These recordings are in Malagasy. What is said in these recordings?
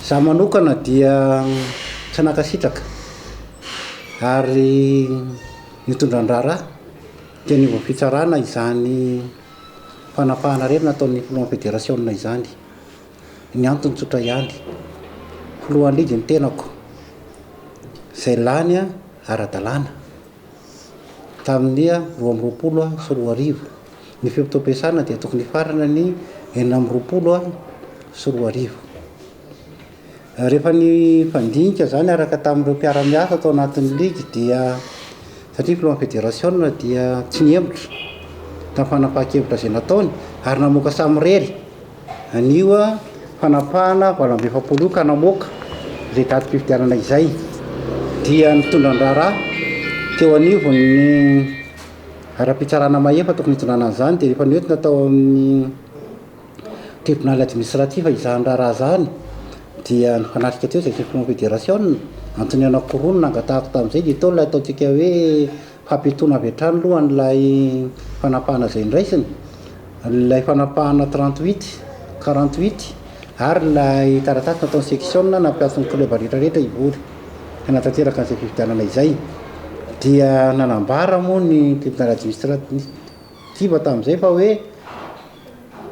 Izaho manokana dia tsy nankasitraka ary nitondra an-draharaha teny anivon'ny fitsarana izany fanapahan'arerina ataon'ny filohan'ny federasiona izany. Ny antony tsotra ihany, filohan'ny ligy ny tenako, izay lany ara-dalàna. Tamin'ny roa amby roapolo sy roa arivo, ny fibotoam-piasana dia tokony hifarana ny enina amby roapolo sy roa arivo. Rehefa nifandinika izany araka tamin'ireo mpiara-miasa tao anatin'ny ligy dia satria filohan'ny federasiona dia tsy nihemotra tamin'ny fanapahan-kevitra izay nataony ary namoaka samirery. Anio fanapahana valo amby efapolo io ka namoaka izay datim-pifidianana izay dia nitondra ny raharaha teo anivon'ny ara-pitsarana mahefa tokony hitondràna an'izany dia rehefa noentina tao amin'ny tribonaly administratif izany raharaha izany dia nifanatrika teo izay session federasiona, antony anakiroa no nangatahako tamin'izay dia teo ilay ataontsika hoe Hampitony avy hatrany aloha an'ilay fanapahana izay noraisiny, ilay fanapahana trente huit, quarante huit, ary ilay taratasy nataon'ny seksiona nampiantso ny klioba rehetrarehetra hivory hanatanteraka an'izay fifidianana izay, dia nanambara moa ny tribonaly administra-tiva tamin'izay fa hoe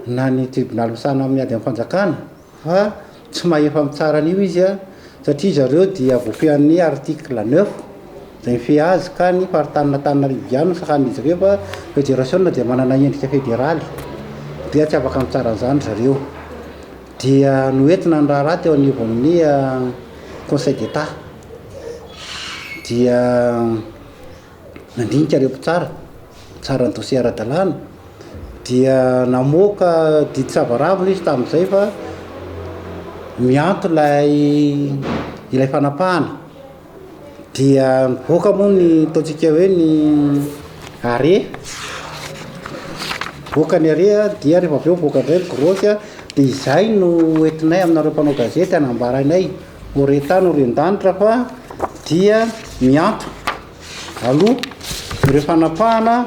na ny tribonaly misahana amin'ny ady amin'ny fanjakana, Fa tsy mahefa mitsara an'io izy a, satria zareo dia voafehan'ny article neuf izay mifehy azy ka ny faritanin' Antananarivo ihany no sahanin'izy ireo fa federasiona dia manana endrika federaly dia tsy afaka mitsara an'izany zareo. Dia noentina ny raharaha teo anivon'ny conseil d'Etat dia nandinika ireo mpitsara nitsara ny dosie ara-dalàna dia namoaka didy savaravina izy tamin'izay fa mianto ilay ilay fanapahana dia nivoaka moa ny ataontsika hoe ny arrêt nivoaka ny arrêt a dia rehefa avy eo nivoaka indray ny grefy a dia izay no entinay aminareo mpanao gazety hanambara anay O re tany o re an-danitra fa dia miato aloha ireo fanapahana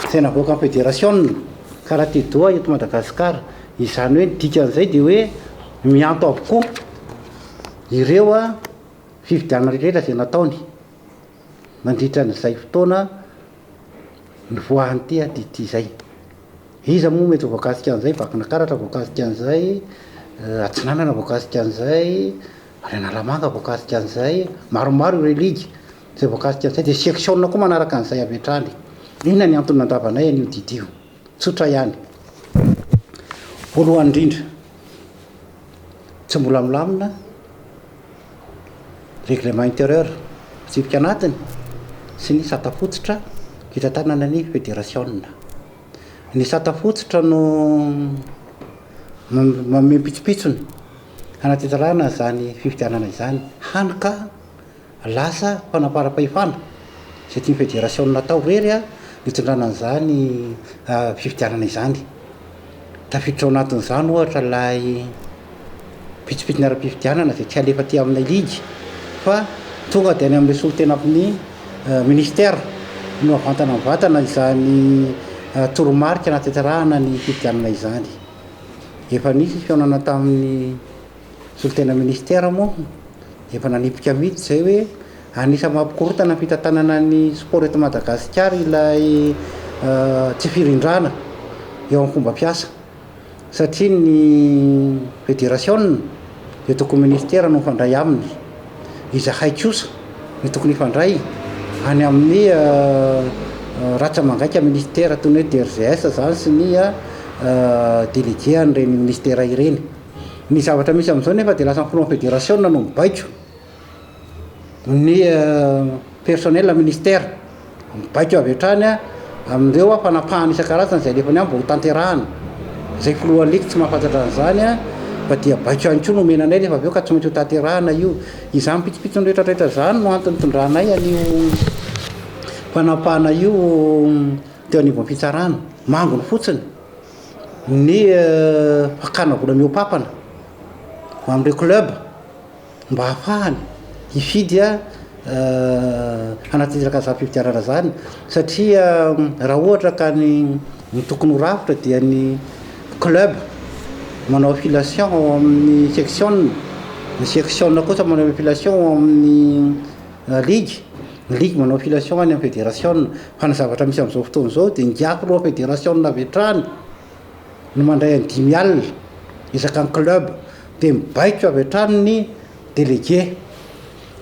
izay navoakan'ny federasiona ka raha te doha eto Madagasikara. Izany hoe ny dikan'izay dia hoe miato avokoa ireo fifidianana rehetra izay nataony nandritra an'izay fotoana. Nivoahan'ny tehaka ity izay. Iza moa mety ho voakasika an'izay? Vakinakaratra voakasika an'izay, Atsinanana voakasika an'izay, Analamanga voakasika an'izay, maromaro ireo ligue izay voakasika an'izay, dia section-na koa manaraka an'izay avy hatrany. Inona ny antony nandravanay an'io didy io? Tsotra ihany. Voalohany indrindra, tsy mbola milamina ny règlement intérieur, fitsipika anatiny sy ny sata fototra hitantanana ny federasiona. Ny sata fototra no manome pitsopitsony hanatsinjarana izany fifidianana izany, hany ka Lasa fanamparam-pahefana izay tian'ny federasiona atao irery ny hitondrana an'izany fifidianana izany. Tafiditra ao anatin'izany ohatra ilay pitsopitsony ara-pifidianana izay tsy halefa aty amin'ilay ligy fa tonga dia any amin'ilay solontenan'ny minisitera no havantana mivantana izany toromarika hanatanterahana ny fifidianana izany. Efa nisy ny fihaonana tamin'ny Solontena Minisitera moa efa nanipika mihitsy izay hoe anisan'ny mampikorontana ny fitantanana ny sport eto Madagasikara ilay tsy firindrana eo amin'ny fomba fiasa satria ny federasiona dia tokony minisitera no mifandray aminy. Izahay kosa no tokony hifandray any amin'ny ratra mangaika minisitera toy ny hoe DRGS izany sy ny délégué an'ireny minisitera ireny. Ny zavatra misy amin'izao nefa dia lasa ny Confederasiona no mibaiko ny personnel ministère. Mibaiko avy hatrany amin'ireo fanapahana isan-karazany izay alefany any mba hotanterahana. Izay filoha lig tsy mahafantatra an'izany fa dia baiko ihany koa no omena anay rehefa avy eo ka tsy maintsy hotanterahana io. Izany pitsopitsony rehetrarehetra izany no antony nitondranay an'io fanapahana io teo anivon'ny fitsarana. Manginy fotsiny. ny fakana vola mihoa-pampana ho an'ireo club mba hahafahany hifidy hanatanteraka izany fifidianana izany satria raha ohatra ka ny ny tokony ho rafitra dia ny club manao affiliation ao amin'ny section, ny section kosa manao affiliation ao amin'ny. Ligue, ny ligue manao affiliation any amin'ny federasiona, fa ny zavatra misy amin'izao fotoana izao dia ngiahy roa federasiona avy hatrany no mandray an'i dimy alina isaky ny club, dia mibaiko avy hatrany ny délégué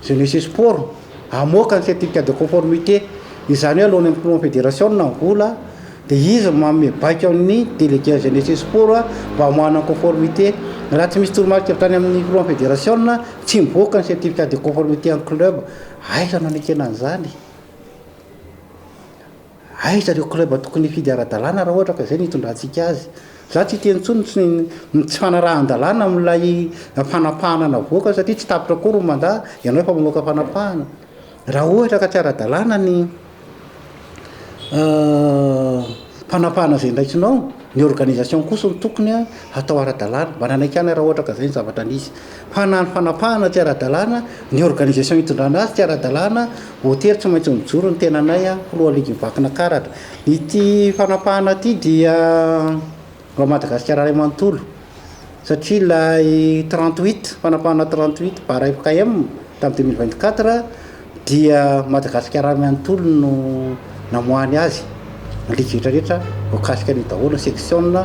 jeunesse et sport hamoaka ny certificat de conformité, izany hoe alohan'ny hampinoan'ny federasiona ny vola, Dia izy no manome baiko amin'ny Délégués à Jeunesse et Sport mba hamoahana ny conformité. Raha tsy misy toromarika avy tany amin'ny Filohan'ny Federasiona, tsy mivoaka ny Certificat de conformité an'ny club. Aiza no anekena an'izany? Aiza ireo club tokony hifidy ara-dalàna raha ohatra ka izay no hitondrantsika azy? Izaho tsy hiteny intsony ny tsy, ny tsy fanarahan-dalàna amin'ilay fanapahana navoaka satria tsy tapitra akory ny mandat, ianao efa mamoaka fanapahana. Raha ohatra ka tsy ara-dalàna ny. fanapahana izay ndraikinao, ny organisation kosa no tokony hatao ara-dalàna mba nanaiky ihany raha ohatra ka izay ny zavatra nisy, fa na ny fanapahana tsy ara-dalàna, ny organisation hitondrana azy tsy ara-dalàna, hotely tsy maintsy mijoro ny tenanay, filoha ligy mivankina karatra, ity fanapahana ity dia. Raha Madagasikara iray manontolo, satria ilay trente huit, fanapahana trente huit barre mpkm tamin'ny deux mille vingt quatre dia Madagasikara iray manontolo no namoahany azy, ny ligue rehetra rehetra voakasika an'io daholo, ny section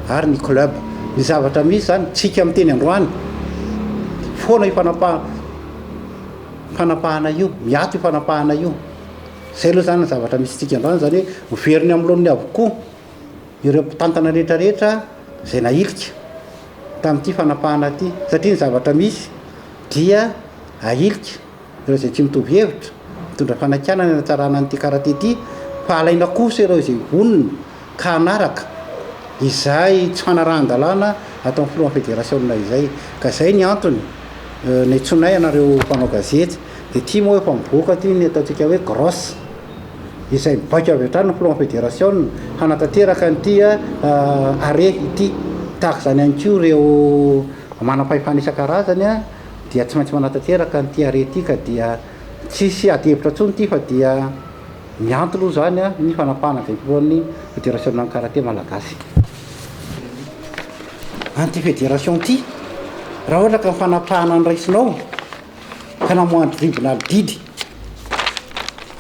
ary ny club. Ny zavatra misy izany, tsika miteny androany foana io fanapa- fanapahana io, miato io fanapahana io. Izay aloha izany ny zavatra misy antsika androany, izany hoe ho very ny amin'ny laoniny avokoa. ireo mpitantana rehetra rehetra izay nahilika tamin'ity fanapahana ity satria ny zavatra misy dia ahilika ireo izay tsy mitovy hevitra mitondra fanakianana hanatsarana an'ity karate ity fa alaina kosa ireo izay vonona ka hanaraka izay tsy fanarahan-dalàna ataon'ny filohan'ny federasiona izay ka izay ny antony ny antsoinay anareo mpanao gazety dia tia moa efa mivoaka ity ny ataontsika hoe grosse izay mibaiko avy hatrany ny filohan'ny federasiona hanatanteraka an'ity arret ity. Tahaka izany ihany koa ireo manam-pahefana isan-karazany dia tsy maintsy manatanteraka an'ity arret ity ka dia tsy hisy adihevitra intsony ity fa dia miantona hoy izany ny fanapahana izay filohan'ny federasionan'ny karate malagasy an'ity federasiona ity. Raha ohatra ka ny fanapahana no raisinao, ka namoahany tribinaly didy.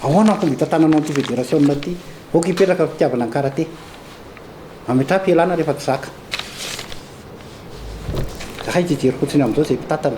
Ahoana ny fomba hitantananao an'ity federasiona ity? Aoka hipetraka ny fitiavana ny karate. Ametraha am-pialana rehefa tsy zaka. Zahay tsy hijery fotsiny amin'izao izay mpitantana.